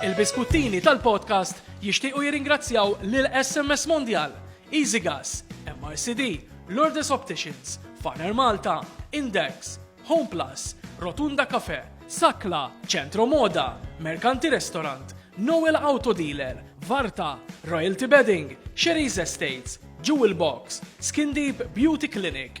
Il-biskuttini tal-podcast jixtiequ jirringrazzjaw lil SMS Mondial, Easy Gas, MRCD, Lourdes Opticians, Farner Malta, Index, Home Plus, Rotunda Cafe, Sakla, Centro Moda, Mercanti Restaurant, Noel Auto Dealer, Varta, Royalty Bedding, Sherry's Estates, Jewel Box, Skin Deep Beauty Clinic,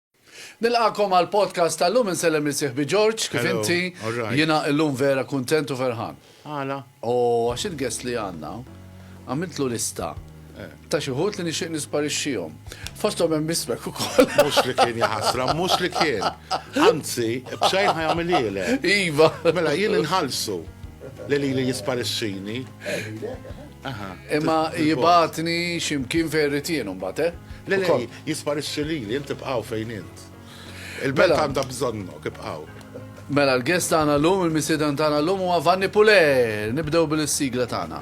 Nilqagħkom għall-podcast tal-lum insellem lil sieħbi George, kif Hello, inti? alright. Jiena illum vera kuntent u ferħan. Għala? O għax il-guest li għandna għamiltlu lista ta' xi ħut li nixtieq nisparixxihom. Fosthom hemm ismek ukoll. Mhux li kien jaħasra, mhux li kien. Anzi, b'xejn ħajamililek. Iva. Mela jien inħallsu li li li jisparixxini. Imma jibatni ximkien fejn ritien mbagħad, eh? Le, le, jisparixxi li li inti bqaw fejn int. Il-belt mela- għandha bżonnok, ibqaw. Mela l-gest tagħna llum, il-misiedan tagħna llum huwa Vanni Pule. Nibdew bil-sigla tagħna.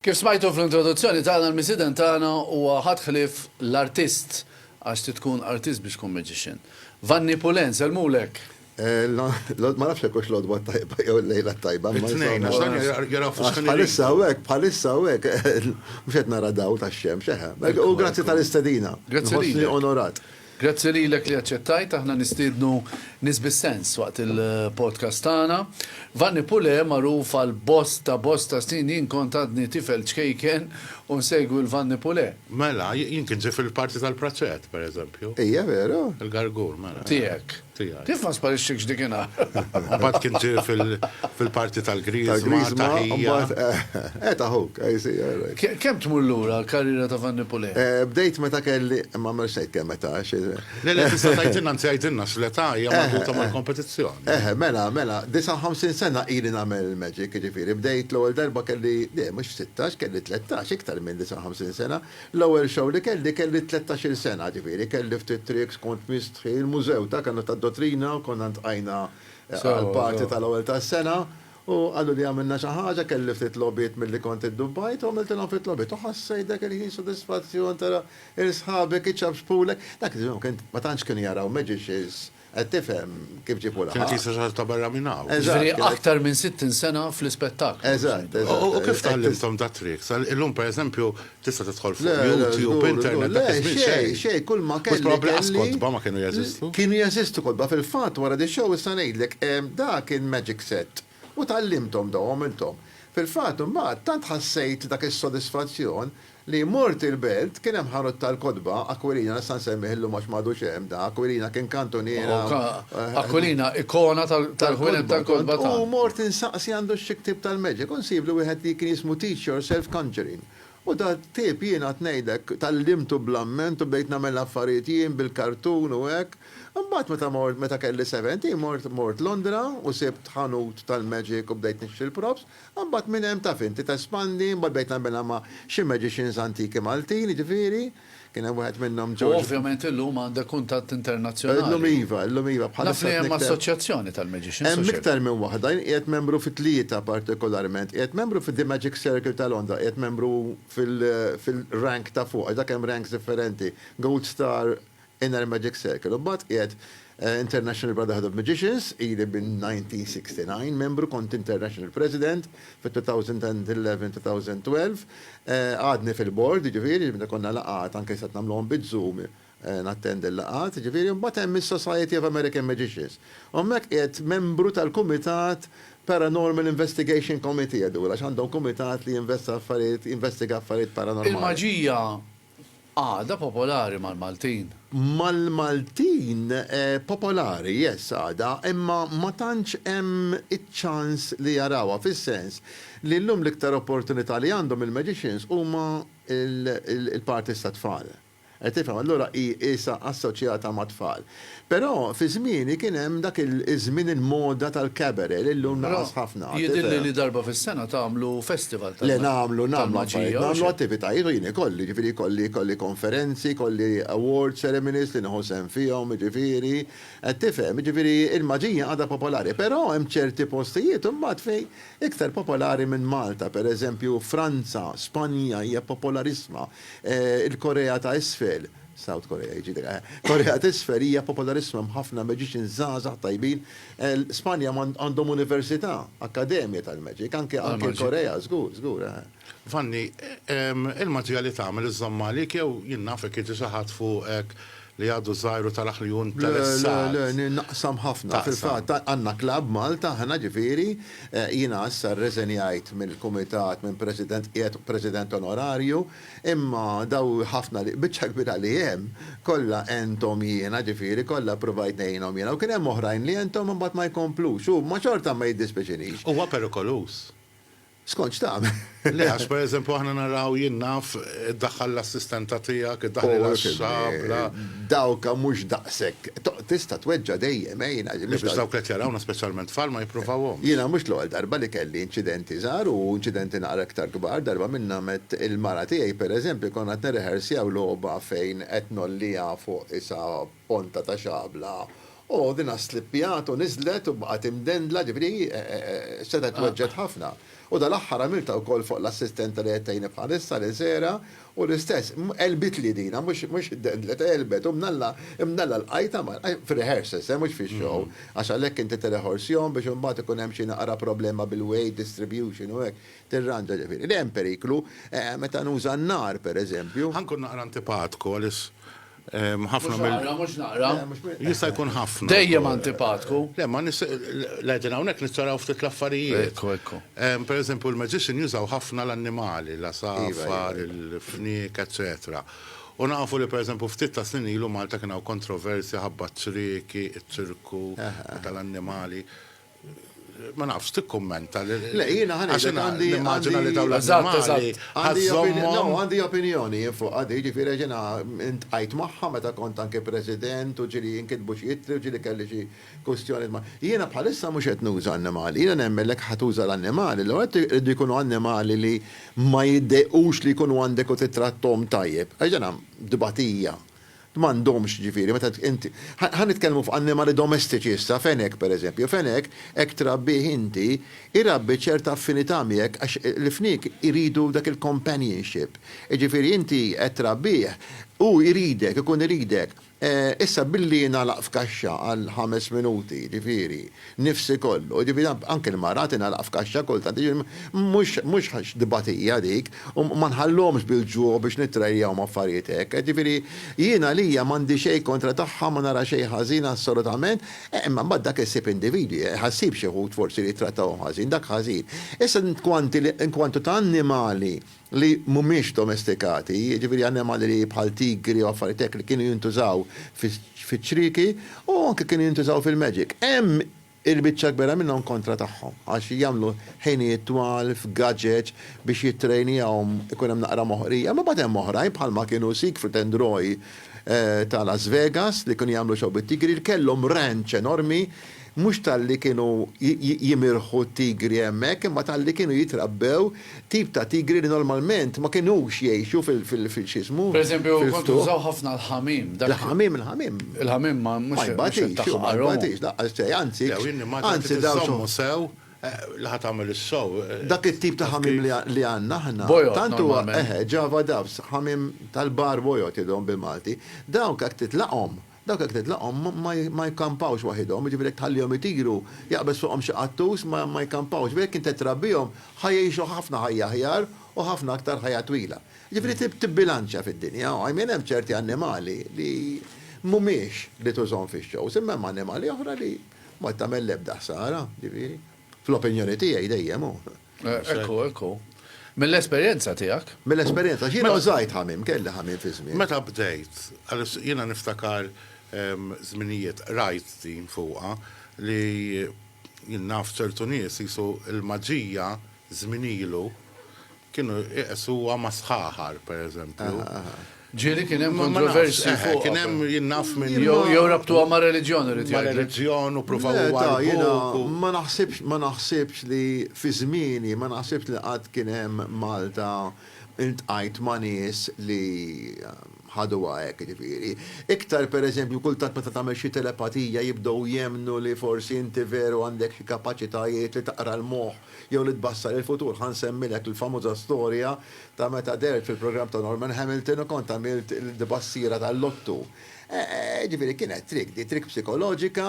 Kif smajtu fl-introduzzjoni tagħna l-missieden tagħna huwa ħadd ħlief l-artist, għax trid tkun artist biex tkun magician. Vanni Pullen, sellmulek! Ma nafx jekk hux l-għodwa t-tajba jew il-lejla t-tajba, imma insomma. It-tnejn, għax dan jaraw fuq skrin. Bħalissa hawnhekk, bħalissa hawnhekk, mhux qed nara dawl tax-xemx, eħe. U grazzi tal-istedina. Grazzi lilek. Inħossni onorat. Grazzi lilek li aċċettajt aħna nistiednu nies bis-sens waqt il-podcast tagħna. Vanni Pule, magħruf għal bosta bosta snin jien kont għadni tifel ċkejken u nsegwi l-Vanni Pule. Mela, jien kint ġej fil-parti tal-Praċett, pereżempju. Hija veru? Il-Gargur, mela. Tiegħek. tiegħi. Kif ma sparisċikx dikinhar? Mbagħad kien ġie fil-parti tal-Griżma, taħija. Qed aħuk, I see, all right. Kemm tmur lura l-karriera ta' Vanni Pulè? Bdejt meta kelli, ma mhux se jkun meta. Le, le, tista' tgħidilna, anzi għidilna x'l-età hija marbuta mal-kompetizzjoni. Eħe, mela, mela, 59 sena ili nagħmel il-magic, jiġifieri bdejt l-ewwel darba kelli, le, mhux 16, kelli 13, iktar minn 59 sena, L-ewwel show li kelli, kelli tlettax-il sena, ġifieri kelli ftit tricks, kont mistħi, il-mużew ta' kena tad-dottrina, konna ntqajna għall-party tal-ewwel tas-sena u qaluli għamilna xi ħaġa, kelli ftit logħbiet milli kont iddubbajt u għamiltilhom ftit logħbiet u ħassejt dak il-ħin sodisfazzjon tara 'l sħabek iċapxpulek, dak iż-żmien ma tantx kienu jaraw magicians, Qed tifhem kif ġiebu l-ħabs? Kienet jista' sar ta' barra minn hawn. Ġifieri aktar minn 60 sena fl-ispettaklu. Eżatt, eżatt. U kif tgħallimthom dat-trick? Illum pereżempju tista' tidħol fuq YouTube, internet, dak iż-żmien xejn. Le, xejn, kull ma kelli. Mhux probabbli lanqas kotba ma kienu jeżistu. Kienu jeżistu kotba, fil-fatt wara di show issa ngħidlek, dak il-magic set U tgħallimthom dawn u għamilthom. Fil-fatt, imbagħad, tant ħassejt dak is-sodisfazzjon li mort il-belt, kien hemm ħanut tal-kotba, Aquilina, nista' nsemmih illum għax m'għadux hemm dan, Aquilina kien kantuniera u. Aquilina, ikona tal-ħwienet tal-kotba tagħna. U mort insaqsi għandu xi ktieb tal-magic u nsiblu wieħed li kien jismu Teach Yourself Conjuring. U dal-ktieb jiena qed ngħidlek tgħallimtu bl-amment u bdejt nagħmel l-affarijiet jien bil-kartun u hekk. Imbagħad meta mort, meta kelli seventeen mort, mort Londra u sibt ħanut tal-magic u bdejt nixtri l-props. Imbagħad minn hemm taf int, tespandi, imbagħad bdejt nagħmilha ma' xi magicians antiki Maltin, jiġifieri, kien hemm wieħed minnhom George. U ovvjament illum għandek kuntatt internazzjonali. Illum iva, illum iva, bħalissa. Naf li hemm assoċjazzjoni tal-magicians. Hemm iktar minn waħda, jien qiegħed membru fi tlieta partikolarment. Qiegħed membru fi The Magic Circle ta' Londra, qiegħed membru fil-rank ta' fuq, għax dak hemm ranks differenti, Gold Star, Inner Magic Circle. Imbagħad qiegħed International Brotherhood of Magicians, ili minn 1969 membru, kont International President fit-2011-2012. Għadni fil-Board, jiġifieri meta jkollna laqgħat, anke se qed nagħmluhom biz-Zoom, nattendi l-laqgħat, jiġifieri. Imbagħad hemm is-Society of American Magicians. U hemmhekk qiegħed membru tal-kumitat Paranormal Investigation Committee, għax għandhom kumitat li jinvestiga affarijiet paranormali. Il-maġija Għada popolari mal-Maltin. Mal-Maltin popolari, yes għada, imma ma tantx hemm iċ-ċans li jarawha fis-sens li llum l-iktar opportunità li għandhom il-magicians huma l-parties tat-tfal. Qed tifhem? Allura hi qisha assoċjata mat-tfal. Però fi żmieni kien hemm dak iż-żmien il-moda tal-cabaret li llum naqas ħafna, tifhem. Però jidhirli li darba fis-sena tagħmlu festival tal-maġija. Le nagħmlu, nagħmlu affarijiet, nagħmlu attivitajiet u jien ikolli, jiġifieri jkolli, jkolli konferenzi, jkolli award ceremonies li nieħu sehem fihom, jiġifieri, qed tifhem, jiġifieri l-maġija għadha popolari. Però hemm ċerti postijiet imbagħad fejn iktar popolari minn Malta, pereżempju Franza, Spanja hija popolarissima, il-Korea ta' Isfel, South Korea jiġifieri, eħe. Korea t'Isfel hija popolarissima hemm ħafna magicians żgħażagħ tajbin. Spanja għandhom università, akkademja tal-magic, anke anke Korea, żgur, żgur, eħe. Vanni, il-maġija li tagħmel iżżomm magħlik jew jien nafek jiġi xi ħadd fuqek li għadu żgħir u taraħ li hu interessat? Le, le, naqsam ħafna. Fil-fatt għandna klabb Malta aħna ġifieri, jiena issa rreżenjajt mill-kumitat minn president, qiegħed president onorarju, Imma daw ħafna li, biċċa kbira li hemm, kollha għenthom jiena, ġifieri kollha ppruvajt ngħinhom jiena, u kien hemm oħrajn li għenthom imbagħad ma jkomplux, u ma xorta ma jiddispiċinix. Huwa perikoluż. Skont x'tagħmel. Le, għax pereżempju aħna naraw, jien naf, iddaħħal l-assistenta tiegħek, iddaħħlilha x-xabla. Dawk mhux daqshekk. Tista' tweġġa' dejjem, eh, jiena. Le, biex dawk li qed jarawna, speċjalment tfal, ma jipprovawhomx. Jiena mhux l-ewwel darba li kelli inċidenti żgħar u inċidenti naqra iktar kbar, darba minnhom għedt il-mara tiegħi, pereżempju, konna qed nirrehersjaw logħba fejn qed ngħolliha fuq isa ponta ta' xabla u dinha slippjat u niżlet u baqgħet imdendla, ġifieri hi setgħet tweġġgħet ħafna. U dal-aħħar għamiltha wkoll fuq l-assistenta li qed tgħinni bħalissa, lil Sarah, U l-istess, għelbitli din, mhux iddendlet, għelbet, u mnalla, mnalla lqajtha mal, fir-rehearsals, eh, mhux fix-show, għax għalhekk inti tirreħorsjhom biex imbagħad ikun hemm xi naqra problema bil-weight distribution u hekk, tirranġa, ġifieri, li hemm periklu, meta nuża n-nar, pereżempju. Ħa nkun naqra antipatku għaliex Ħafna mill. Mhux naqra, mhux naqra. Jista' jkun ħafna. Dejjem antipatku. Le, ma nis. L-għedin hawnhekk nittaraw ftit l-affarijiet. Ekku, ekku. Per eżempju, l-magician jużaw ħafna l-annimali, l-għasafar, il-fniek, eċċetera. U nafu li per eżempju ftit ta' snin ilu Malta kien hawn kontroversja ħabba ċ-ċrieki, iċ-ċirku, tal-annimali. ma nafx tikkummenta li. Le, jiena ħa ngħidlek għandi. Nimmaġina li dawn l-annimali. Għandi opinjoni jien fuq għadi, jiġifieri jiena ntqajt magħha meta kont anke President u ġieli jinkitbu xi ittri u ġieli kelli xi kwistjonijiet ma'. Jiena bħalissa mhux qed nuża annimali. Jiena nemmen li jekk ħa tuża l-annimali, l-ewwel nett iridu jkunu annimali li ma jiddejqux li jkunu għandek u tittratthom tajjeb. Għax dan dbatija. M'għandhomx, jiġifieri, meta inti, ħa nitkellmu fuq annimali domestiċi issa, fenek, pereżempju, fenek hekk trabbih inti, irabbi ċerta affinità miegħek għax il-fniek iridu dak il-companionship. Jiġifieri inti qed trabbih, hu jridek, ikun iridek. Issa billi jingħalaq f'kaxxa għal ħames minuti, jiġifieri, Nifsi kollu, jiġifieri anke l-mara tingħalaq f'kaxxa kultant, jiġifieri mhux tbatija dik, u ma nħalluhomx bil-ġuħ biex nittrajjahom affarijiet hekk, jiġifieri jien għalija m'għandi xejn kontra tagħha ma nara xejn ħażin assolutament, imma mbagħad dak issib individwi, ħassib xi wħud forsi li jittrattawhom ħażin, dak ħażin. Issa inkwantu ta' annimali, li mhumiex domestikati, jiġifieri annimali li bħal tigri u affarijiet hekk li kienu jintużaw fiċ-ċrieki u anke kienu jintużaw fil-magic. Hemm il-biċċa kbira minnhom kontra tagħhom għax jagħmlu ħinijiet twal f'gadgets biex jittrejnjawhom ikun hemm naqra moħqrija. Imbagħad hemm oħrajn bħalma kienu Siegfried and Roy ta' Las Vegas li kienu jagħmlu show bit-tigri li kellhom ranch enormi Mhux talli kienu jimirħu t-tigri hemmhekk imma talli kienu jitrabbew tip ta' tigri li normalment ma kinux jgħixu fil-x'ismu, fil-ftuħ. Il-ħamiem, il-ħamiem. Il-ħamiem ma jbatix, ma jbatix laqqas xejn, anzi, anzi dawn iżommu sew, li ħa tagħmel is-sew. Dak it-tip ta' ħamiem li għandna aħna, tant huwa, eħe, Java Doves, ħamiem tal-bar bojod jgħiduhom bil-Malti, dawk jekk titlaqhom, Dawk jekk titlaqhom ma jkampawx waħidhom, jiġifieri jekk tħallihom itiru, jaqbeż fuqhom xi qattus, ma jkampawx, iżda jekk inti trabbihom ħa jgħixu ħafna ħajja aħjar u ħafna aktar ħajja twila. Jiġifieri trid tibbilanċja fid-dinja, I mean hemm ċerti annimali li mhumiex li tużhom fix-shows, imma hemm annimali oħra li ma tagħmel l-ebda ħsara, jiġifieri, fl-opinjoni tiegħi dejjem hu. Ekku, ekku. Mill-esperjenza tiegħek? Mill-esperjenza, x'jiena mela- żgħid ħamim, kelli ħamim fi żmien. Meta bdejt, jiena niftakar ehm, żminijiet rajt din fuqha li jien naf ċertu nies jisu l-maġija żmien ilu kienu iqesuha ma' sħaħar, pereżempju. Ġieli kien hemm kontroversji fuqha. Kien hemm, jien naf minn. Jew rabtuha ma' reliġjon irid jgħidlek. Ma' reliġjon u ppruvaw iwarrbuh u. Ma naħsibx, ma naħsibx li fi żmieni, ma naħsibx li qatt kien hemm Malta iltqajt ma' nies li ħaduha hekk, jiġifieri. Iktar pereżempju kultant meta tagħmel xi telepatija jibdew jemmnu li forsi inti veru għandek xi kapaċitajiet li taqra l-moħħ jew li tbassar il-futur. Ħa nsemmilek il-famuża storja ta' meta dehrt fil-programm ta' Norman Hamilton u kont għamilt il-tbassira tal-lottu. Jiġifieri kienet trick di, trick psikoloġika,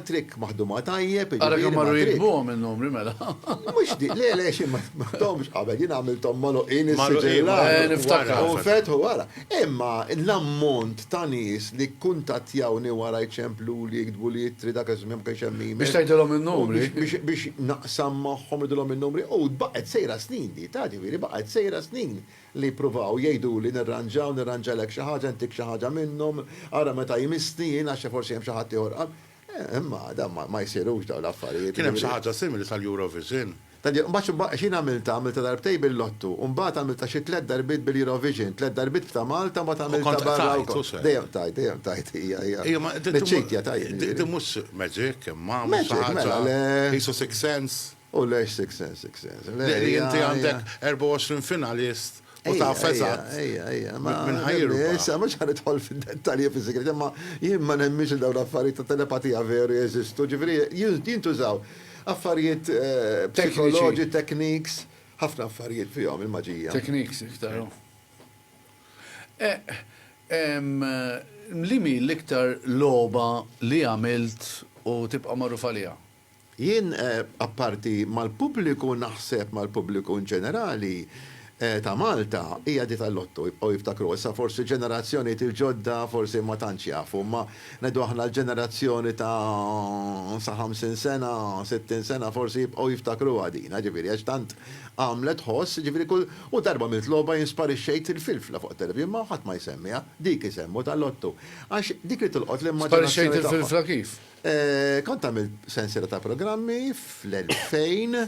trick maħduma tajjeb, jiġifieri ma' trick. Ara kemm marru jiktbuhom in-numri mela. Mhux dik, le le xejn ma ktbthomx qabel, jien għamilthom magħluqin issiġillati. Magħluqin, eh niftakar. U nfetħu wara. Imma l-ammont ta' nies li kkuntattjawni wara jċempluli, jiktbu li ittri, dak iż-żmien ma kienx hemm email. Biex tgħidilhom in-numri. Biex naqsam magħhom, ngħidilhom in-numri. U baqgħet sejra snin di, taf, ġifieri baqgħet sejra snin li jippruvaw jgħiduli nirranġaw, nirranġalek xi ħaġa, ntik xi ħaġa minnhom, ara meta jmissni jien għax forsi hemm xi ħaddieħor. Imma dan ma jsirux dawn l-affarijiet. Kien hemm xi ħaġa simili sal-Eurovision. Mbagħad x'jien għamiltha, għamiltha darbtejn bil-Lotto, u mbagħad għamiltha xi tliet darbiet bil-Eurovision, tliet darbiet b'Ta' Malta mbagħad għamiltha barra wkoll. U kont qtajt. Dejjem qtajt, dejjem qtajt, hija, hija. Hija ma. Miċċejt qtajt. Din mhux magic imma, mhux xi ħaġa. Magic, mela le. Qisu sixth sense. U lejx Sixth Sense, Sixth Sense? Le, Li inti għandek 24 finalist u taf eżatt minn ħa jirbaħ. Issa mhux ħa nidħol fid-dettalji fis-sigriet, imma jien ma nemminx li dawn l-affarijiet ta' telepatija veru jeżistu, ġifieri jintużaw affarijiet psikoloġi, techniques, ħafna affarijiet fihom il-maġija. Techniques iktar, hu. Liema hi l-iktar logħba li għamilt u tibqa' magħruf għaliha? Jien, apparti mal-pubbliku, naħseb mal-pubbliku inġenerali, ta' Malta, hija di tal-Lotto, jibqgħu jiftakruha. Issa forsi ġenerazzjonijiet il-ġodda forsi ma tantx jafu, imma ngħidu aħna l-ġenerazzjoni ta' sa ħamsin sena, sittin sena forsi jibqgħu jiftakruha din, jiġifieri għax tant għamlet tħoss, jiġifieri kull u darba għamilt logħba jien sparixxejt il-filfla fuq it-televixin imma ħadd ma jsemmiha, dik isemmu tal-Lotto. Għax dik li tolqot l-immaġinazzjoni tagħhom. Sparixxejt il-filfla kif? Kont għamilt sensiela ta' programmi fl-2000,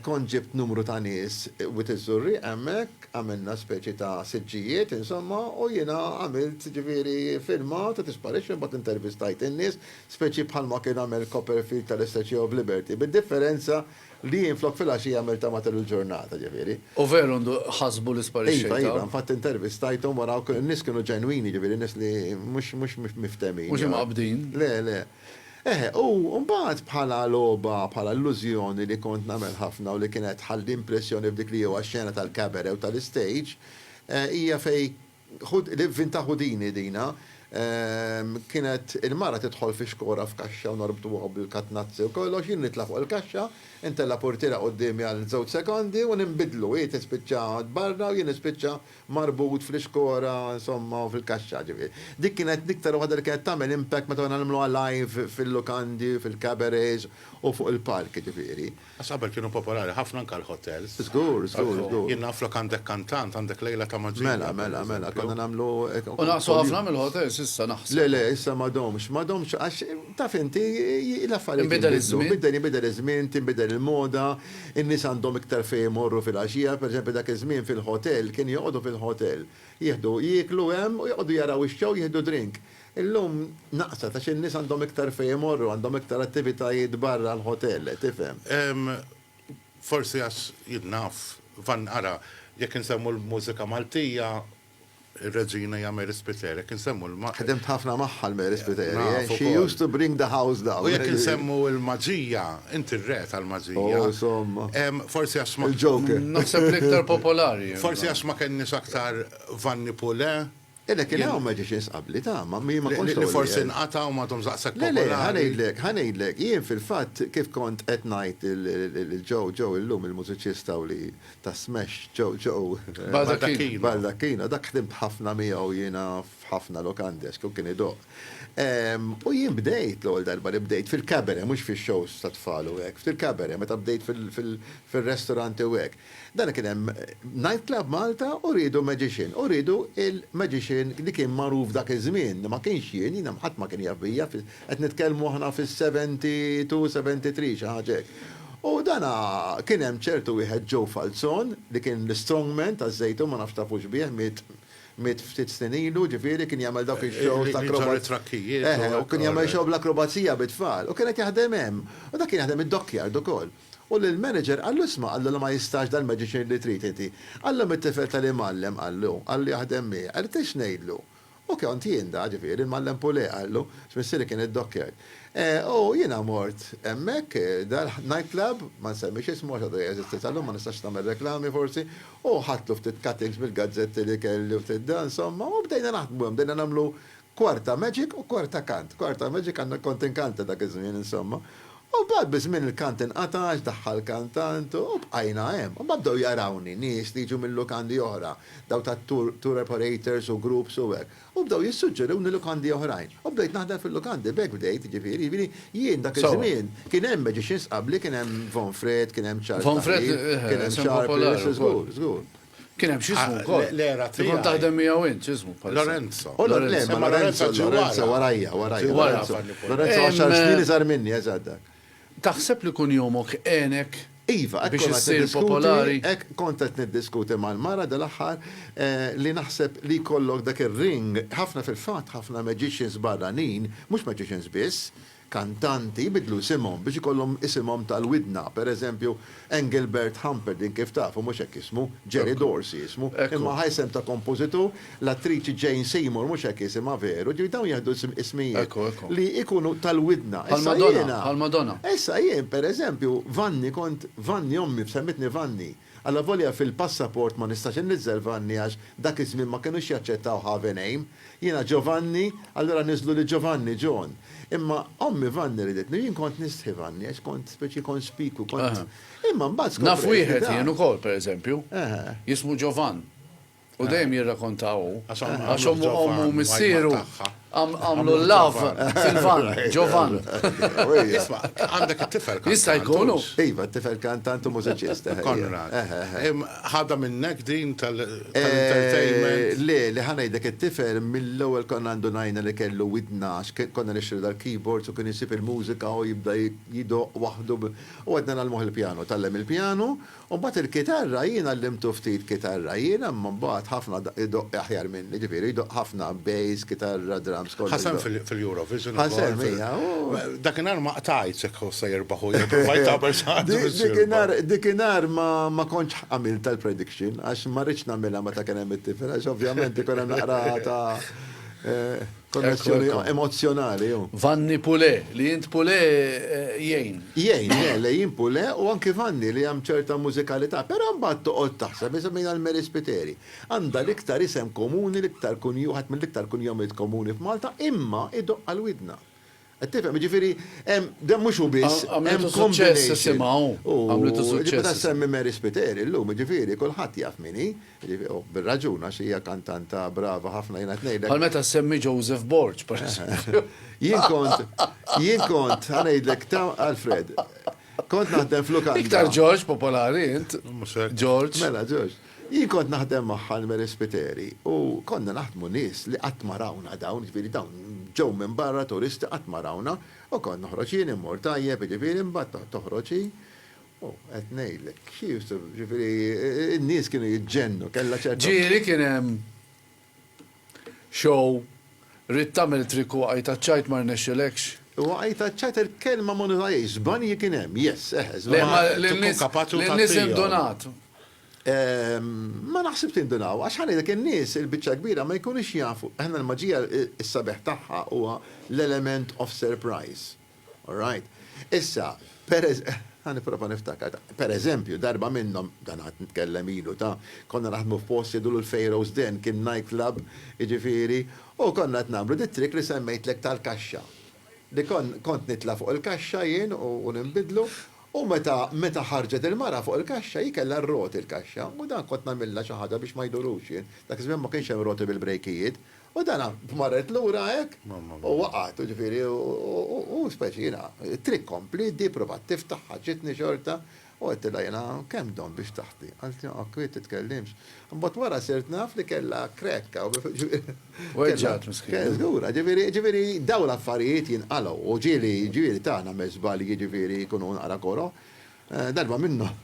kont ġibt numru ta' nies wit iż-Żurrieq hemmhekk, għamilna speċi ta' siġġijiet insomma u jiena għamilt jiġifieri filmat u tisparixxi mbagħad intervistajt in-nies, speċi bħalma kien għamel Copperfield tal-SHO f'Liberty, bid-differenza Li jien flok filgħaxija għamilt ta' matul il-ġurnata, ġifieri. U veru ndu ħasbu li sparixxejt, Iva, Iva, infatti intervistajthom wara u n-nies kienu ġenwini, ġifieri nies li mhux mhux miftehmin. Mhux imqabbdin. Le, le. Eħe, u mbagħad bħala logħba, bħala illużjoni li kont nagħmel ħafna u li kienet tħalli impressjoni f'dik li huwa x-xena tal-cabaret u tal-istage, hija fejn Vinta Houdini din, ha? Kienet il-mara tidħol fi xkora f'kaxxa u norbtuha bil-katnazzi u kollox, jien nitla' fuq il-kaxxa, intella' purtiera quddiemi għal żewġ sekondi u ninbidlu, hi tispiċċa barra u jien nispiċċa marbut fl-ixkora, insomma, u fil-kaxxa, ġifieri. Dik kienet l-iktar waħda li kienet tagħmel impact meta konna nagħmluha live fil-lukandi, fil-cabarets u fuq il-palk, jiġifieri. Għax qabel kienu popolari ħafna anke l-hotels. Żgur, żgur, żgur. Jien naf flok għandek kantant, għandek lejla ta' maġija. Mela, mela, mela, konna nagħmlu hekk. U naqsu ħafna mill-hotels issa naħseb. Le, le, issa m'għadhomx, m'għadhomx għax taf inti l-affarijiet. Inbidel iż-żmien. Inbidel, inbidel iż-żmien, tinbidel il-moda, in-nies għandhom iktar fejn imorru fil-għaxija. Per eżempju dak iż-żmien fil-hotel kienu joqogħdu fil-hotel. Jieħdu, jieklu hemm u joqogħdu jaraw ix-show, jieħdu drink. Illum naqset għax in-nies għandhom iktar fejn imorru, għandhom iktar attivitajiet barra l-ħotel, tifhem. Ehm, forsi għax jien naf, Van, ara, jekk insemmu l-mużika Maltija, ir-Reġina hija Mary Spiteri, jekk insemmu l-. Ħdimt ħafna magħha l-Mary Spiteri, eh? Naf ukoll. She used to bring the house down. U jekk insemmu l-maġija, inti r-re tal-maġija. Oh, insomma. Ehm, forsi għax ma. Il-Joker. Naħseb l-iktar popolari. Forsi għax ma kenniex aktar Vanni Pule. Qiegħda kien hawn magicians qabli, tama, jien ma kontx l-ewwel wieħed. Li forsi nqata' u m'għadhomx daqshekk popolari. Le, le, ħa ngħidlek, ħa ngħidlek, jien fil-fatt kif kont qed ngħid lil Joe, Joe illum il-mużiċista u li ta' smash, Joe, Joe. Baldacchino. Baldacchino, dak ħdimt ħafna miegħu jiena f'ħafna lokandes, hu kien idoqq. U jien bdejt l-ewwel darba li bdejt fil-cabaret, mhux fix-shows tat-tfal u hekk, fil-cabaret, meta bdejt fir-restoranti u hekk. Dana kien hemm nightclub Malta u riedu magician u riedu il-magician li kien magħruf dak iż-żmien li ma kienx jien, jiena ħadd ma kien jaf bija, qed nitkellmu aħna fis-72, 73 xi ħaġa hekk. U dana kien hemm ċertu wieħed Joe Falzon li kien l-strongman taż-Żejtun ma nafx tafux bih miet miet ftit snin ilu ġifieri kien jagħmel dawk ix-shows ta' akroba. Li jġorr it-trakkijiet. Eħe, u kien jagħmel show bl-akrobazija bit-tfal u kien qed jaħdem hemm. U dak kien jaħdem id-dockyard ukoll. U l-manager qallu isma' qallu li ma jistax dal-medicine li trid inti. Qallu mit-tifel tal-imgħallem qallu, qallu jaħdem miegħi, qallu trid x'ngħidlu? U kont jien da, ġifieri, l-mgħallem Pulè qallu, għax missieri kien id-dokkjer. U jiena mort hemmhekk, dal-night club, ma nsemmix ismu għax għadu jeżisti sal-lum, ma nistax nagħmel reklami forsi, u ħadtlu ftit cuttings mill-gazzetti li kelli u ftit da, insomma, u bdejna naħdmu hemm, bdejna nagħmlu Kor ta' Magic u Kor ta' Kant. Kor ta' Magic għandna kont inkanta dak iż-żmien insomma. U mbagħad biż-żmien il-kant inqata' għax daħħal kantant u bqajna hemm. U mbagħad bdew jarawni nies li jiġu minn lukandi oħra, dawn ta' tour operators u groups u hekk. U bdew jissuġġeruni lukandi oħrajn. U bdejt naħdem fil-lukandi, b'hekk bdejt jiġifieri. Jiġifieri jien dak iż-żmien kien hemm magicians qabli, kien hemm Von Fred, kien hemm Charles Tahrir, kien hemm Sharples, żgur, żgur. Kien hemm x'ismu ah, wkoll. L-era tiegħi. Kont taħdem miegħu int, x'ismu bħal. Lorenzo. Oh, Lorenzo, Lorenzo, Lorenzo warajja, warajja. Lorenzo, Lorenzo għaxar snin iżgħar minni, eżatt. Taħseb li kun jomok għenek Iva, biex issir popolari. Ek kont qed niddiskuti mal-mara dal-aħħar eh, li naħseb li kollok dak ir-ring, ħafna fil-fatt ħafna magicians barranin, mhux magicians biss, kantanti jbiddlu isimhom biex ikollhom isimhom tal-widna, per eżempju, Engelbert Humperdinck kif tafu mhux hekk ismu, Jerry Dorsey ismu, imma ħa isem ta' kompożitur, l-attriċi Jane Seymour mhux hekk isimha veru, ġifieri dawn jieħdu ismijiet li jkunu tal-widna. Issa jiena, issa jien per eżempju, Vanni kont, Vanni ommi semmitni Vanni. Allavolja fil-passaport ma nistax inniżżel Vanni għax dak iż-żmien ma kinux jaċċettaw Have a name. Jiena Giovanni, allura niżżlu li Giovanni, John. Imma ommi Vanni riditni u jien kont nistħi Vanni għax kont speċi konspikwi, kont Imma mbagħad skoprejt li dan. Naf wieħed jien ukoll, pereżempju. Jismu Giovan. U dejjem jirrakonta hu. Għax ommu missieru għamlu l-lav fil-van, ġovan. Isma, għandek it-tifel kantant. Jista' jkunu. Iva, t-tifel kantant u mużiċist. Eh, eh, eh. Konrad. Ħada minnek din tal-entertainment. Le, li ħanajdek it-tifel mill-ewwel konna għandu najna li kellu widna għax konna nixtru dal-keyboards u kien jisib il-mużika u jibda jidoq waħdu u għadna nagħlmuh il-pjanu. Tallem il-pjanu U mbagħad il-kitarra jien għallimtu ftit kitarra jien imma mbagħad ħafna idoqq aħjar minni, ġifieri jdoqq ħafna bass, kitarra, drums kollox. Ħa sehem fil-Eurovision ukoll. Ħa sehem, ija u. Dakinhar ma qtajtx jekk hu se jirbaħ u jew provajt tagħmel xi ħaġa biex jirbaħ. Dikinhar ma kontx għamiltha l-prediction għax ma ridtx nagħmilha meta kien hemm it-tifel għax ovvjament ikun hemm naqra ta' Konnessjoni emozzjonali. Vanni Pule, li jint Pule eh, jgħin. Jgħin, eh, li jint Pule u anki Vanni li jgħam ċerta mużikalità, però mbagħad toqgħod taħseb jisemmin għal Mary Spiteri. Għandha l-iktar isem komuni, l-iktar kunju, ħadd mill-iktar kunjomiet komuni f'Malta, imma idoqqa l-widna. Qed tifhem, jiġifieri hemm, dan mhux hu biss, hemm combination. Għamlitu suċċess isimgħu. Ġiet meta ssemmi Mary Spiteri llum, jiġifieri kulħadd jaf min hi, u bir-raġun għax hija kantanta brava ħafna jiena qed ngħidlek. Bħal meta ssemmi Joseph Borg, pereżempju. Jien kont, jien kont, ħa ngħidlek, Alfred, kont naħdem f'lukanda. Iktar George popolari int. Mhux hekk. George. Mela George. Jien kont naħdem ma' Ħalmeri Spiteri u konna naħdmu nies li qatt ma rawna dawn, jiġifieri dawn ġew minn barra turisti qatt ma rawna u kont noħroġ jien immur tajjeb jiġifieri imbagħad toħroġ hi u qed ngħidlek she used to jiġifieri n-nies kienu jiġġennu kellha ċerta Ġieli kien hemm Show, Ridt tagħmel trick u waqajt għaċ-ċajt ma rnexxilekx? Waqajt għaċ-ċajt il-kelma ma nużajhiex, żbanji kien hemm, yes, eħe, żbanji. Ma tkun kapaċu ta' Lin-nies indunat. Ma naħsibx indunaw, għax ħa ngħidlek in-nies il-biċċa l-kbira ma jkunux jafu, aħna l-maġija s-sabiħ tagħha huwa l-element of surprise. All right. Issa, ħa nipprova niftakar, per eżempju, darba minnhom, dan għad nitkellem ilu ta', konna naħdmu f'post jgħidulu l-Pharaoh's Den, kien night club, jiġifieri, u konna qed nagħmlu dit-trick li semmejtlek tal-kaxxa. Li kont nitla' fuq il-kaxxa jien u ninbidlu, u meta meta ħarġet il-mara fuq il-kaxxa hi kellha r-roti l-kaxxa, u dan kont nagħmilha xi ħaġa biex ma jdurux jien, dak iż-żmien ma kienx hemm roti bil-brejkijiet, U dana marret lura hekk u waqgħet, u ġifieri u speċi jiena, it-triq kompli, di provat tiftaħ, ħaġġitni xorta, u għedtilha jiena, kemm dom biex taħti? Qaltli, ok, wi titkellimx. Imbagħad wara sirt naf li kellha crack hawn, ġifieri. Weġġgħet miskina. Żgura, ġifieri, ġifieri dawn l-affarijiet jinqalgħu, u ġieli, ġieli ta' nagħmel żbalji ġifieri jkunu naqra koroh. Darba minnhom,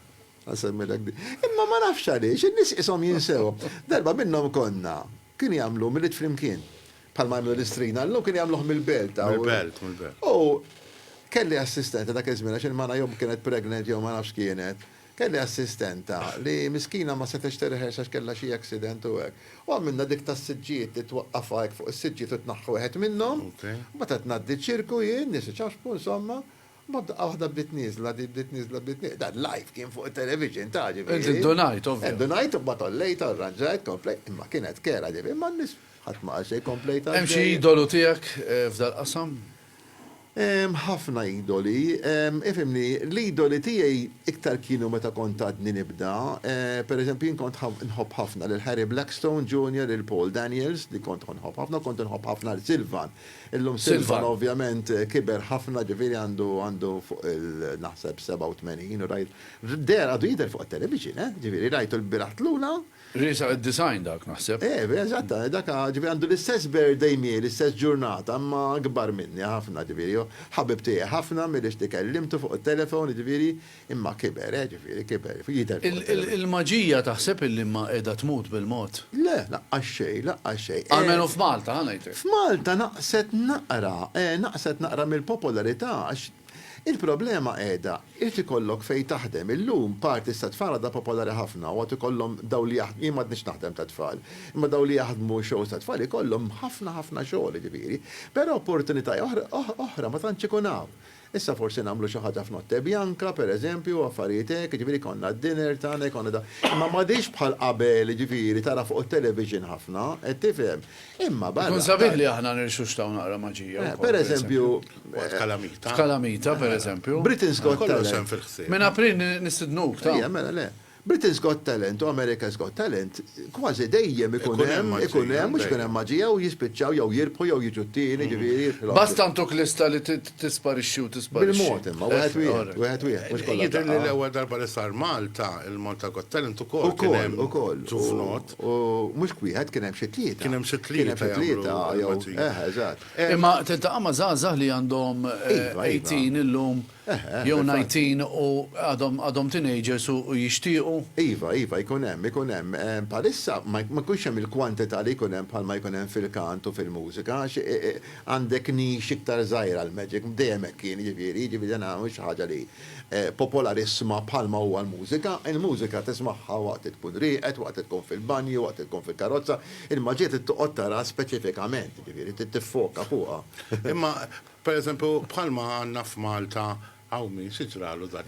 ħa nsemmilek di. Imma ma nafx għaliex, in-nies qishom jinsewhom. Darba minnhom konna, Kien jagħmlu milied flimkien. Bħalma jagħmlu l-istrina llum, kien jagħmluh mill-belt. Mill-belt, mill-belt. U kelli assistenta dak iż-żmien għax il-mara jew kienet pregnant jew ma nafx x'kienet. Kelli assistenta li miskina ma setgħetx tirreħers għax kellha xi accident u hekk. U għamilna dik tas-siġġijiet li twaqqafha hekk fuq is-siġġiet u tnaħħi wieħed minnhom. Imbagħad qed ngħaddi ċ-ċirku jien, nies iċaxxpu, insomma, Ma daqqa waħda bdiet nieżla, din bdiet nieżla, bdiet nieqda. Dan live kien fuq it-television, taf, ġifieri. Int indunajt, ovvja. Indunajt u mbagħad għollejtha, rranġajt, komplejt, imma kienet kerha, ġifieri ma nnis, ħadd ma qal xejn, komplejt għaddej. Hemm xi idolu tiegħek f'dal-qasam? Hemm ħafna idoli. Ifhimni, l-idoli tiegħi iktar kienu meta kont għadni nibda. Per eżempju, jien kont nħobb ħafna lil Harry Blackstone Junior, lil Paul Daniels, li kont nħobb ħafna, u kont inħobb ħafna lil Sylvan, Illum Silvan ovvjament kiber ħafna ġifieri għandu għandu fuq il naħseb 87 u rajt dehar għadu jidher fuq it-television eh ġifieri rajtu lbieraħ tlula. Riesaq id-90 dak naħseb. Eh vera eżatt dak ġifieri għandu l-istess birthday miegħi l-istess ġurnata imma akbar minni ħafna ġifieri hu ħabib tiegħi ħafna milli xti kellimtu fuq it-telephone ġifieri Imma kiber, eh, ġifieri kiber, jidher fuq il-televixin. Il-maġija taħseb illi imma qiegħda tmut bil-mod? Le, laqqas xejn, laqqas xejn. Almenu f'Malta, ha ngħidlek. F'Malta naqset naqra, eh, naqset naqra mill-popolarità għax il-problema qiegħda, irid ikollok fejn taħdem. Illum parti sa tfal għadha popolari ħafna u għad ikollhom dawn li jaħdmu, jien m'għadnix naħdem ta' tfal, imma dawn li jaħdmu shows ta' tfal ikollhom ħafna ħafna xogħol, jiġifieri. Però opportunitaja oħra ma tantx ikun hawn. Issa forsi nagħmlu xi ħaġa f'notte bianca, pereżempju, u affarijiet hekk, jiġifieri jkollna d-dinner tagħna, jkollna da. Imma m'għadhiex bħal qabel, jiġifieri tara fuq it-television ħafna, qed tifhem. Imma barra. Ikun sabiħ li aħna nirxuxtaw naqra maġija wkoll. Pereżempju. Waqt kalamita. F'kalamita, pereżempju. Britain's Got Talent. Kollox hemm fil-ħsieb. Minn April nistidnuk, ta. Ejja, mela, le. Britain's Got Talent u America's Got Talent kważi dejjem ikun hemm ikun hemm mhux ikun hemm maġija u jispiċċaw jew jirbħu jew jiġu t-tieni jiġifieri jirbħu l-oħra. Basta ntuk lista li tisparixxi u tisparixxi. Bil-mod imma wieħed wieħed wieħed wieħed mhux kollha f'daqqa. Jidhirli l-ewwel darba li sar Malta il-Malta Got Talent ukoll kien hemm ġuvnot. Ukoll ukoll u mhux wieħed kien hemm xi tlieta. Kien hemm xi tlieta. Kien hemm xi tlieta jew eħe eżatt. Imma tiltaqa' ma' żgħażagħ li għandhom 18 illum. Jew nineteen u għadhom għadhom teenagers u jixtiequ. Iva, iva, jkun hemm, ikun hemm. Bħalissa ma jkunx hemm il-kwantità li jkun hemm bħalma jkun hemm fil-kant u fil-mużika għax għandek niche iktar żgħira l-magic, dejjem hekk kien jiġifieri, jiġifieri dan mhux ħaġa li popolarissima bħalma huwa l-mużika. Il-mużika tismagħha waqt li tkun rieqed, waqt li tkun fil-banju, waqt li tkun fil-karozza. Il-maġija trid toqgħod taraha speċifikament, jiġifieri trid tiffoka fuqha. Imma Per eżempju, bħalma għandna f'Malta hawn min xi ġralu dak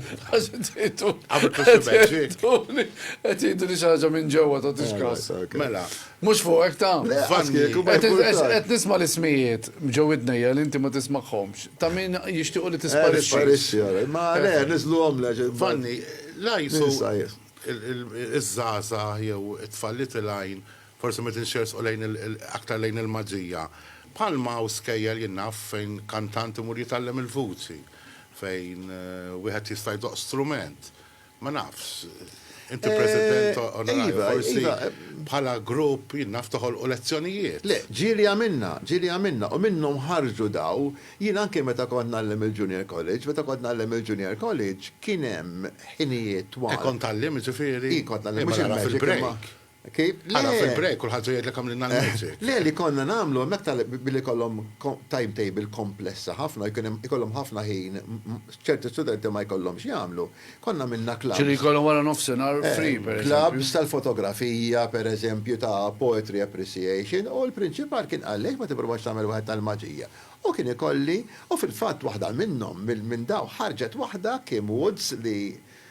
Qed jgħiduli xi ħaġa minn ġewwa tagħtix każ. Mela. Mhux fuqek ta'. Qed nisma' l-ismijiet ġo widnejja li inti ma tismagħhomx. Ta' min jixtiequ li tisparixxi. Ma le, niżluhom le. Vanni, l-għajsu iż-żgħażagħ jew it-tfal li tilgħin Forsi meta nxerrsqu lejn aktar lejn il-maġija. Bħalma hawn skejjel jien naf fejn kantant imur jitgħallem il-vuċi, fejn wieħed jista' jdoqq strument. Ma nafx. Inti President onorarju forsi bħala grupp jien naf toħolqu lezzjonijiet. Le, ġieli għamilna, ġieli għamilna u minnhom ħarġu daw. Jien anke meta kont ngħallem il-Junior College, meta kont ngħallem il-Junior College kien hemm ħinijiet twal. E kont tgħallim jiġifieri? I kont ngħallim, mhux il-magic imma. Kif? Le! Ara fil-break kulħadd se jgħidlek għamlilna l-music. Le, li konna nagħmlu hemmhekk tal billi jkollhom timetable komplessa ħafna, jkun hemm ikollhom ħafna ħin, ċerti studenti ma jkollhomx x'jagħmlu, konna għamilna clubs. Ġifieri jkollhom wara nofsinhar free, pereżempju. Clubs tal-fotografija, pereżempju, ta' poetry appreciation, u l-prinċipal kien qal li għaliex ma tipprovax tagħmel waħed tal-maġija. U kien ikolli, u fil-fatt waħda minnhom, minn dawn ħarġet waħda, Kim Woods, li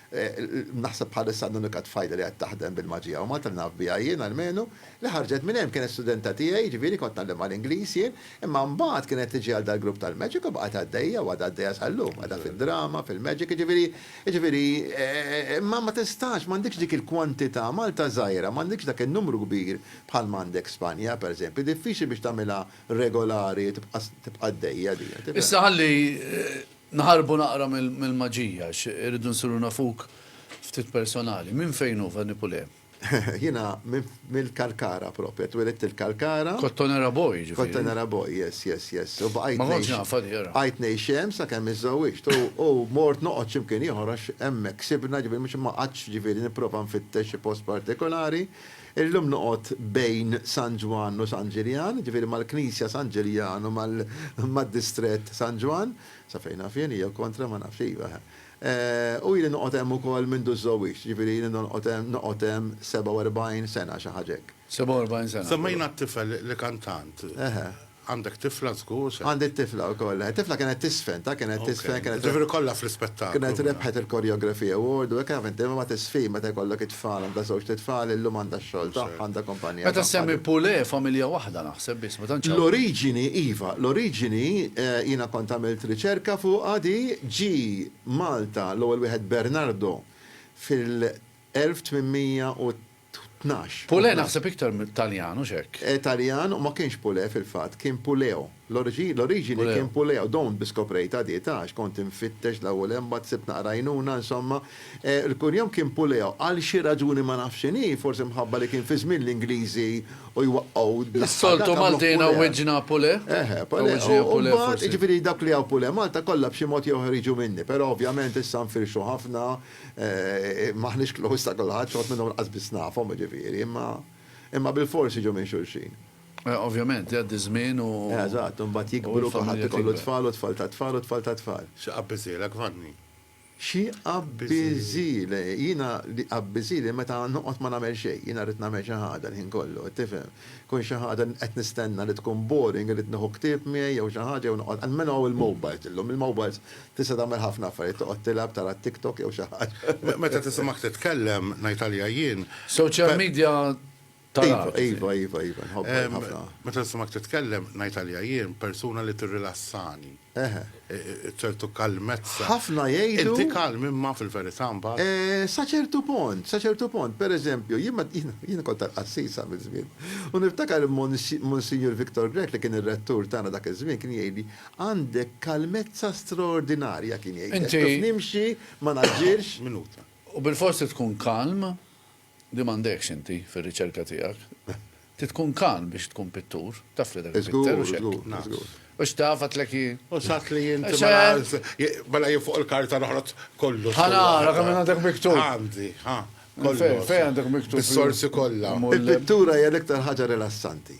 Naħseb bħalissa l-unika tfajla li qed taħdem bil-maġija u Malta li naf biha jien almenu, li ħarġet minn hemm kienet studenta tiegħi, jiġifieri kont ngħallimha l-Ingliż jien, imma mbagħad kienet tiġi għal dal-grupp tal-magic u baqgħet għaddejja u għadha għaddejja sal-lum, qiegħda fid-drama, fil-magic, jiġifieri, jiġifieri, imma ma tistax, m'għandikx dik il-kwantità, Malta żgħira, m'għandikx dak in-numru kbir bħalma għandek Spanja, pereżempju, diffiċli biex tagħmilha regolari, tibqa' għaddejja din. Issa ħalli Naħarbu naqra mill-maġija għax irridu nsiru nafuk ftit personali. Minn fejn hu Vanni Pulè? Jiena mill-Kalkara proprja, twielidt il-Kalkara. Kottonera boy jiġifieri. Kottonera boy, yes, yes, yes. U bqajt ngħix. Ma kontx nafha di ara. Bqajt ngħix hemm sakemm iżżewwiġt u mort noqgħod xi mkien ieħor għax hemmhekk sibna, ġifieri mhux ma qgħadtx ġifieri nipprova nfittex xi post partikolari. Illum noqgħod bejn San Ġwann u San Ġiljan, jiġifieri mal-Knisja San Ġiljan u mad-distrett San Ġwann, sa fejn naf jien, jew kontra, ma nafx, iva, eħe. U ili noqgħod hemm ukoll mindu ż-żowwiġt, jiġifieri ili nonqgħod hemm, noqgħod hemm 47 sena, xi ħaġa hekk. 47 sena. Semmejna t-tifel li kan tant. Eħe. Għandek tifla żgur se. Għandi t-tifla wkoll, le. Tifla kienet tiżfen, ta' kienet tiżfen, kienet. Jiġifieri kollha fl-ispettaklu. Kienet rebħet il-Choreography Award u hekk taf inti imma ma tiżfin meta jkollok it-tfal, għandha żewġt itfal, illum għandha x-xogħol tagħha, għandha kumpanija tagħha. Meta ssemmi Poulet familja waħda naħseb biss, ma tantx hawn. L-oriġini, iva, l-oriġini jiena kont għamilt riċerka fuqha di, ġie Malta l-ewwel wieħed Bernardo fil. 1812. Pulè naħseb iktar Taljan, hux hekk? Eh, Taljan u ma kienx Pulè fil-fatt, kien Puleo. L-oriġini kien Puleo, don't bi skoprejtha di, ta, għax kont infittex l-ewwel hemm mbagħad sibt naqra għajnuna, insomma. Eh, il-kunjom kien Puleo, għal xi raġuni ma nafx x'inhi, forsi mħabba li kien fi żmien l-Ingliżi u jwaqqgħu d-daħħal dak għamluh Pulè. Is-soltu Maltina wiġġna Pulè? Eħe, Pulè. U mbagħad, jiġifieri dawk li hawn Pulè Malta kollha b'xi mod jew ieħor jiġu minni, però ovvjament issa nfirxu ħafna, M'aħniex close ta' kulħadd, xi wħud minnhom lanqas biss nafhom, jiġifieri, imma imma bilfors jiġu minn xulxin. Ovvjament, jgħaddi ż-żmien u. Eżatt, u mbagħad jikbru, kulħadd ikollu tfal u tfal tat-tfal u tfal tat-tfal. Xi qabbiżhielek, Vanni? Xi qabbiżhieli? Jiena li jqabbiżhieli meta noqgħod ma nagħmel xejn. Jiena rrid nagħmel xi ħaġa l-ħin kollu, qed tifhem. Tkun xi ħaġa li qed nistenna li tkun boring, irrid nieħu ktieb miegħi jew xi ħaġa jew noqgħod, almenu hawn il-mobiles illum, il-mobiles Tista' tagħmel ħafna affarijiet, toqgħod tilgħab, tara t-TikTok jew xi ħaġa. Meta tisimgħek titkellem, ngħid għalija jien. Social media tal-art. Iva, iva, iva, iva, nħobbha jien ħafna. Meta nisimgħek titkellem, ngħid għalija jien, persuna li tirrilassani. Eħe. Ċertu kalmezza. Ħafna jgħidu. Inti kalm imma fil-verità mbagħad. Sa ċertu punt, sa ċertu punt. Per eżempju, jien ma, jiena kont tal-qassis sa miż-żmien. U niftakar Monsinjur Victor Grech li kien ir-rettur tagħna dak iż-żmien kien jgħidli, Għandek kalmezza straordinarja, kien jgħidlek. Inti. Kif nimxi, ma naġġilx. Minut. U bilfors trid tkun kalm, li m'għandekx inti fir-riċerka tiegħek. Trid tkun kalm biex tkun pittur, taf li dak il-pitter hux hekk. Żgur, żgur. Hux taf għad tlek hi. U saħt li inti mela jien fuq il-karta noħroġ kollox. Ħa nara kemm għandek miktub. Għandi, ħa. Fejn għandek miktub? Is-sorsi kollha. Il-pittura hija l-iktar ħaġa rilassanti.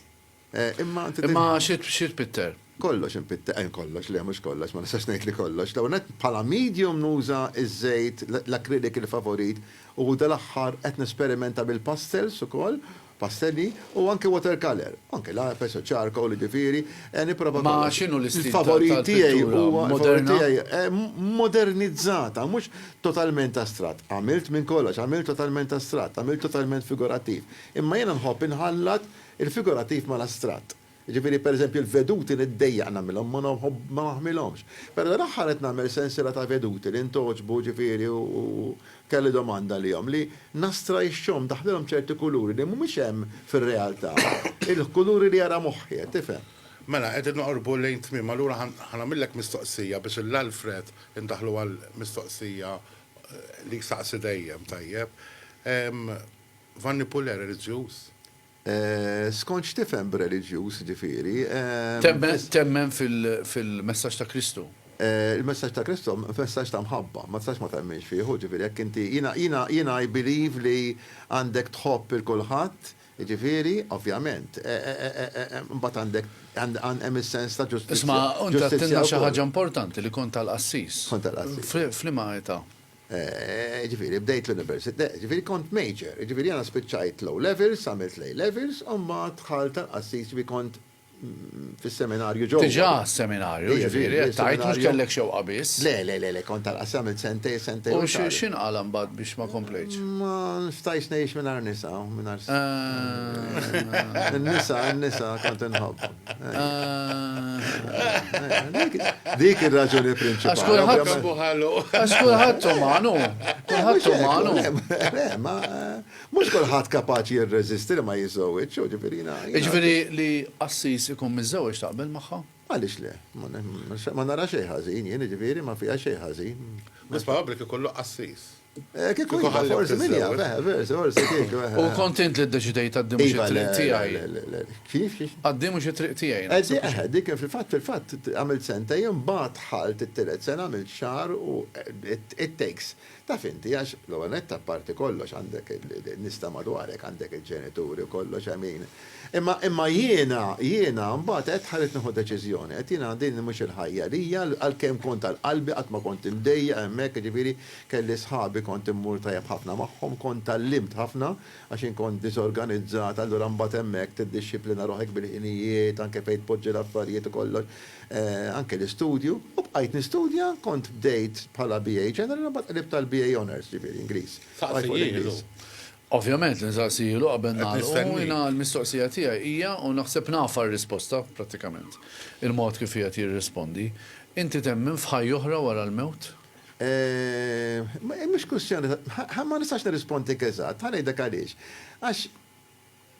Imma Imma xi tpitter? Kollox inpitter, eh, kollox, le mhux kollox, ma nistax ngħid li kollox. L-ewwel nett bħala medium nuża ż-żejt, l-acrylic il-favorit u dal-aħħar qed nesperimenta bil-pastels ukoll, pastelli, u anke watercolor. Anke l-IFS u charcoal, jiġifieri, eh, nipprova kollox. Ma x'inhu l-istil tal-pittura moderna? Il-favorit tiegħi huwa, il-favorit tiegħi, eh, modernizzata, mhux totalment astratt. Għamilt minn kollox, għamilt totalment astratt, għamilt totalment figurattiv. Imma jiena nħobb inħallat Il-figurattiv mal-astratt. Jiġifieri, pereżempju, l-veduti niddejjaq nagħmilhom, ma naħmilhomx. Però dal-aħħar qed nagħmel sensiela ta' veduti li ntgħoġbu, ġifieri, u kelli domanda għalihom, li nastrajxxhom, ndaħħlilhom ċerti kuluri li mhumiex hemm fir-realtà, il-kuluri li jara moħħi, qed tifhem. Mela, qegħdin noqorbu lejn tmiem, allura ħa nagħmillek mistoqsija biex il-Alfred indaħħlu għall-mistoqsija li jsaqsi dejjem, tajjeb. Vanni Puller reliġjuż? Skont x'tifhem b'reliġjuż, ġifieri? Temmen fil-messaġġ ta' Kristu? Il-messaġġ ta' Kristu huwa messaġġ ta' mħabba, ma tistax ma temminx fih, hu ġifieri jekk inti, jiena i believe li għandek tħobb il kulħadd, jiġifieri, ovvjament, imbagħad għandek, hemm is-sens ta' ġustizzja. Isma' int għedtilna xi ħaġa importanti li kont tal-qassis. Kont tal-qassis. F'liema età? Jiġifieri bdejt l-Università, jiġifieri kont major, jiġifieri jiena spiċċajt l-O-Levels, għamilt l-A-Levels u mbagħad dħalt tal-qassis, jiġifieri kont fis-seminarju ġewwa. Diġà seminarju, jiġifieri qed tgħid mhux kellek xewqa biss. Le, le, le, le, kont tal-qassis, għamilt sentejn, sentejn u xahar. U x'inqala' mbagħad biex ma komplejtx? Ma stajtx ngħix mingħajr nisa, mingħajr. Eehh. In-nisa, in-nisa kont inħobbhom. Dik ir-raġuni prinċipali. Għax kulħadd buħalu. Għax kulħadd umanu. Kulħadd umanu. Ma mhux kulħadd kapaċi jirreżisti li ma jiżżewġ, ġifieri Ġifieri li assis ikun miżżewġ taqbel magħha? Għaliex le? Ma nara xejn ħażin, jien ġifieri ma fiha xejn ħażin. Biss probabbli kif kollu qassis. Kieku iva, forsi min jaf, eh, versi, forsi kieku. Eh, u eh. kontent li d-deċidejt għaddim xie iva, triq tijaj. Kif? Għaddim xie triq tijaj. Eh, dik fil-fat, fil-fat, għamil senta jem bat ħalt it-tilet sena għamil xar u it takes. Ta' finti, għax l-għanet ta' parti kollox għandek nista madwarek għandek il-ġenituri u kollox għamin. Imma imma jiena, jiena, mbat għed ħarit nħu deċizjoni, għed jiena din mux il-ħajja li għal-kem kont għal-qalbi għatma kont imdejja, emmek, ġifiri, Kelli sħabi kont immur tajjeb ħafna magħhom, kont tgħallimt ħafna għax jien kont diżorganizzat, allura mbagħad hemmhekk tiddixxiplina ruħek bil-ħinijiet, anke fejn tpoġġi l-affarijiet u kollox, anke l-istudju. U bqajt nistudja, kont bdejt bħala BA General u mbagħad qlibt għal BA Honours, ġifieri Ingliż. Saqsiehielu. Ovvjament li nsaqsiehielu qabel nagħlqu, jiena l-mistoqsija tiegħi hija, u naħseb nafha r-risposta prattikament, il-mod kif qiegħed jirrispondi, inti temmen f'ħajja oħra wara l-mewt? Hi mhux kwistjoni ta' ma nistax nirrispondik eżatt, ħa ngħidlek għaliex. Għax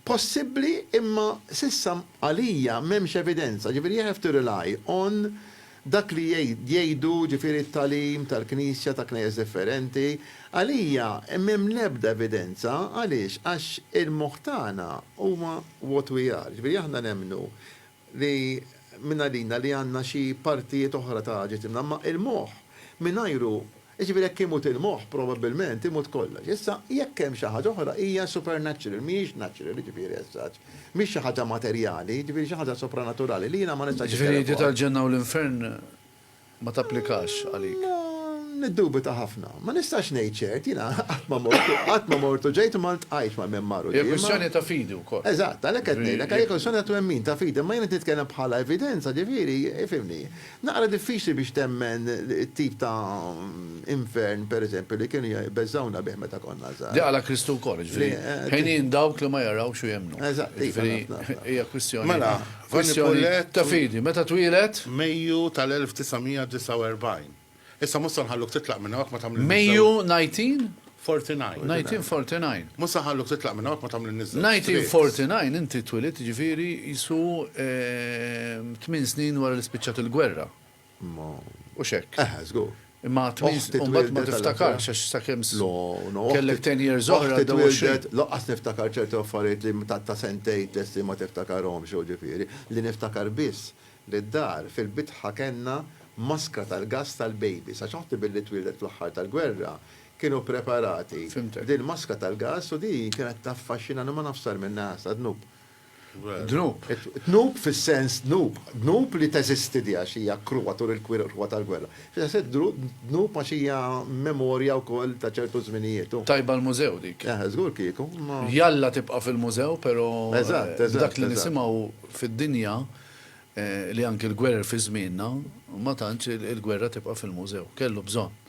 possibbli imma s'issa għalija m'hemmx evidenza, ġifieri you have to rely on dak li jgħidu ġifieri t-tagħlim tal-Knisja ta' Knejjes differenti. Għalija m'hemm l-ebda evidenza, għaliex? Għax il-moħħ tagħna huwa what we are, ġifieri aħna nemmnu li mingħajrina li għandna xi partijiet oħra ta' ġisimna, imma il-moħħ mingħajru, jiġifieri jekk imut il-moħħ probabbilment imut kollox. Issa jekk hemm xi ħaġa oħra hija supernatural, mhijiex natural, jiġifieri as such, mhix xi ħaġa materjali, jiġifieri xi ħaġa sopranaturali li jiena ma nistax. Jiġifieri l-idea tal-ġenna u l-infern. ma tapplikax għalik. Niddubita ħafna. Ma nistax ngħid ċert, jiena qatt ma mort u qatt ma mort u ġejt u ma ltqajtx mal-Myanmar qudiema. Hija kwistjoni ta' fidi wkoll. Eżatt, għalhekk qed ngħidlek, hija kwistjoni ta' twemmin, ta' fidi, imma jiena qed nitkellem bħala evidenza, ġifieri, ifhimni, naqra diffiċli biex temmen it-tip ta' infern, pereżempju, li kienu jbeżżgħuna bih meta konna żgħar. Dik qalha Kristu wkoll, jiġifieri, ħinin dawk li ma jarawx u jemmnu. Eżatt, iva, naf, naf, naf. Jiġifieri, hija kwistjoni ta'. Mela, Kwistjoni ta' fidi. Meta twieled? Mejju tal-1949. Issa mhux se nħalluk titlaq minn hawn jekk ma tagħmlilniex żewġ. Mejju 1949. 1949. Mhux se nħalluk titlaq minn hawn jekk ma tagħmlilniex żewġ. 1949 inti twilidt jiġifieri qisu tmien snin wara li spiċċat il-gwerra. Ma. Hux hekk? Eħe, żgur. Imma għad tmien Oħti u mbagħad ma twildet għal tiftakarx aħjar. għax sakemm s- No, no, oħti- kellek 10 years oħra Oħti għaddew 20. twildet, lanqas niftakar ċerti affarijiet li ta' ta' sentejn tlesti ma tiftakarhomx u ġifieri, li niftakar biss li d-dar fil-bitħa kellna maskra tal-gass tal-babies għax oħti billi twildet fl-aħħar tal-gwerra kienu preparati Fhimtek. b'din maskra tal-gass u din kienet taffaxxinani u ma nafx sar minnha sa dnub. dnub. Dnub fis-sens dnub, dnub li teżisti di għax hija kruha tul il-kruha tal-gwerra. Fis-sens dnub għax hija memorja wkoll ta' ċertu żminijiet u. Tajba l-mużew dik. Eħe, żgur kieku, imma. Jalla tibqa' fil-mużew pero b'dak li nisimgħu fid-dinja li anki l-gwerer fi żmienna ma tantx il-gwerra tibqa' fil-mużew. Kellu bżonn.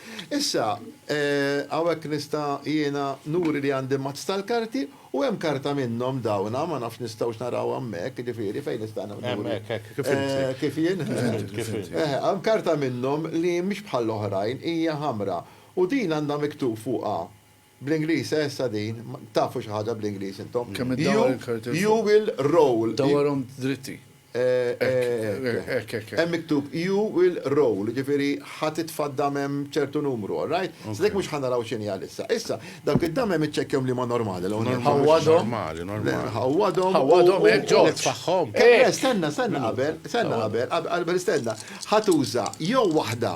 Issa, hawnhekk nista' jiena nuri li għandi mazz tal-karti u hemm karta minnhom dawn, ma nafx nistgħux naraw hemmhekk, jiġifieri fejn nista' nuri. Hemmhekk, hekk, kif inti. Kif jien? Kif inti. Eħe, hemm karta minnhom li mhix bħall-oħrajn, hija ħamra u din għandha miktub fuqha Bl-Ingliż, eh issa din, tafu xi ħaġa bl-Ingliż intom? Kemm iddawwar il-karti l-fuq. You will roll. Dawwarhom dritti. Hekk, hekk, hekk. Hemm miktub you will roll, jiġifieri ħa titfa' d-damem ċertu numru, all right? Sa dik mhux ħa naraw x'inhi għalissa. Issa, dawk id-damem iċċekkjahom liema normali l-ewwel nett. Ħawwadhom. Normali, normali. Ħawwadhom. Ħawwadhom hekk, Ġorġ. Nitfagħhom. Eh, le, stenna, stenna qabel, stenna qabel, qabel istenna. Ħa tuża jew waħda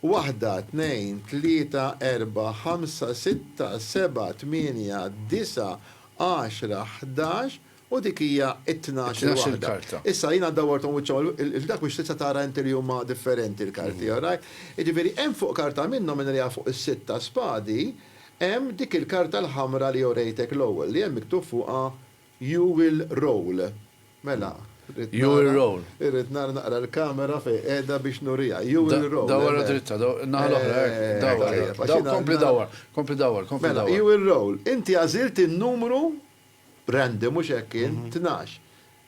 Waħda, tnejn, tlieta, erbgħa, ħamsa, sitta, sebgħa, tmienja, disgħa, għaxra, ħdax u dik hija t-tnax il waħda. Issa jiena dawwarthom wiċċhom il dak biex tista' tara inti li huma differenti l-karti, all right? Jiġifieri hemm fuq karta minnhom minn għaliha fuq is-sitt ta' spadi hemm dik il-karta l-ħamra li urejtek l-ewwel li hemm miktub fuqha You will roll. Mela, irrid nara. You will roll. Irrid nara naqra l-kamera fejn qiegħda biex nuriha. You will roll. Dawwarha dritta, in-naħa l-oħra, hekk, dawwarha. Kompli dawwar, kompli dawwar, kompli dawwar. Mela, you will roll. Inti għażilt in-numru random, mhux hekk kien, tnax.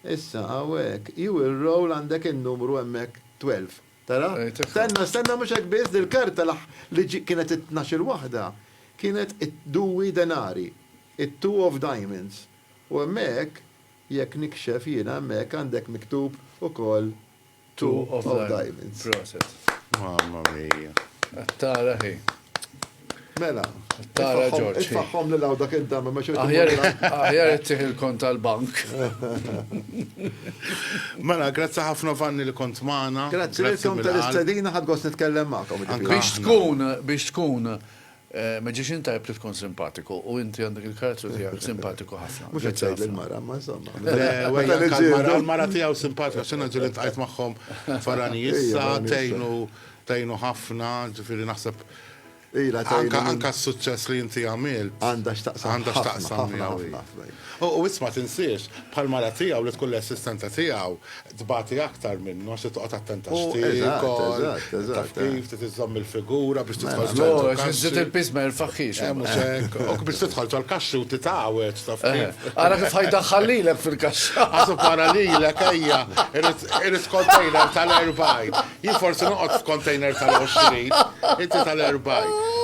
Issa, hawnhekk, you will roll għandek in-numru hemmhekk twelve. Tara? Stenna, stenna mhux hekk biss, dil-karta li kienet it-tnax-il waħda kienet id-duwi denari. It-Two of Diamonds. U hemmhekk, jekk nikxef jiena hemmhekk għandek miktub ukoll Two of Diamonds. Proset. Mamma mia. Qed tara hi. Mela. Qed tara Ġorġ. Itfagħhom lil hawn dak id-dam imma xorta. Aħjar ittieħ il-kont tal-bank. Mela, grazzi ħafna Vanni li kont magħna. Grazzi lilkom tal-istedina ħadd gost nitkellem magħkom. Biex tkun, biex tkun Magician tajjeb li tkun simpatiku u inti għandek il-karattru tiegħek simpatiku ħafna. Mhux qed tgħid lill-mara, ma insomma. L-mara tiegħu simpatika x'inha ġieli ntqajt magħhom farani issa tgħinu tgħinu ħafna, ġifieri naħseb anka s-suċċess li inti għamilt. Għandha x'taqsam. Għandha x'taqsam miegħu. U isma' tinsiex, bħall-mara tiegħu li tkun l-assistenta tiegħu, tbati aktar minnu għax trid toqgħod attent għax U- eżatt, tiekol, eżatt, eżatt, taf eh. kif trid iżżomm il-figura biex Mela, tidħol mela. ċertu kaxxi. Zid il-pis ma jirfaħħix. Eh, mhux hekk. Ok, biex tidħol ċal kaxxi u titgħawed, taf Eh, kif. Ara kif ħajdaħħal lilek fil-kaxxa. Għazu para li l ejja, irrit kontejner tal-40. Jien forsi noqgħod f'kontejner tal-20, inti tal-40.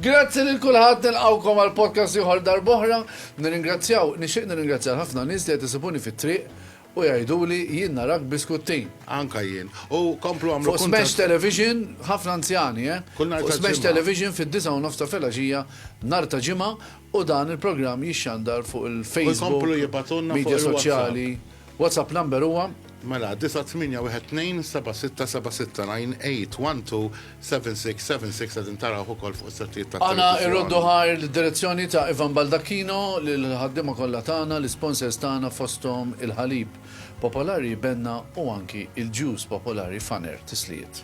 Grazzi lil kulħadd nilqawkom għal podcast ieħor darboħra. Nirringrazzjaw, nixtieq nirringrazzjaw ħafna nies li qed isibuni fit-triq U jgħiduli, Jien narak biskuttin. Anka jien. U komplu għamlu kuntatt. Fuq Smash Television, ħafna anzjani, eh? Kull nhar ta' Ġimgħa. Fuq Smash Television fid-disgħa u nofs ta' filgħaxija nhar ta' Ġimgħa u dan il-programm jixxandar fuq il-Facebook, midja soċjali. WhatsApp number huwa. Mela, 9812767698112. 7676 qegħdin tarawh ukoll fuq is-settijiet tat-televiżjoni. Għana irroddu ħajr lid-direzzjoni ta' Ivan Baldacchino, lill-ħaddiema kollha tagħna, l-isponsors tagħna fosthom il-ħalib popolari Benna u anki il-juice popolari Faner. Tislijiet.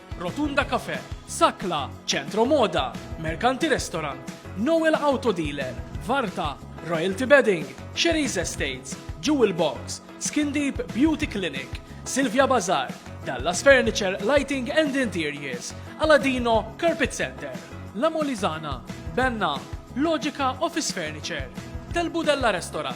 Rotunda Cafe, Sakla, Centro Moda, Mercanti Restaurant, Noel Auto Dealer, Varta, Royalty Bedding, Sherry's Estates, Jewel Box, Skin Deep Beauty Clinic, Silvia Bazaar, Dallas Furniture Lighting and Interiors, Aladino Carpet Center, La Molizana, Benna, Logica Office Furniture, Del Budella Restaurant,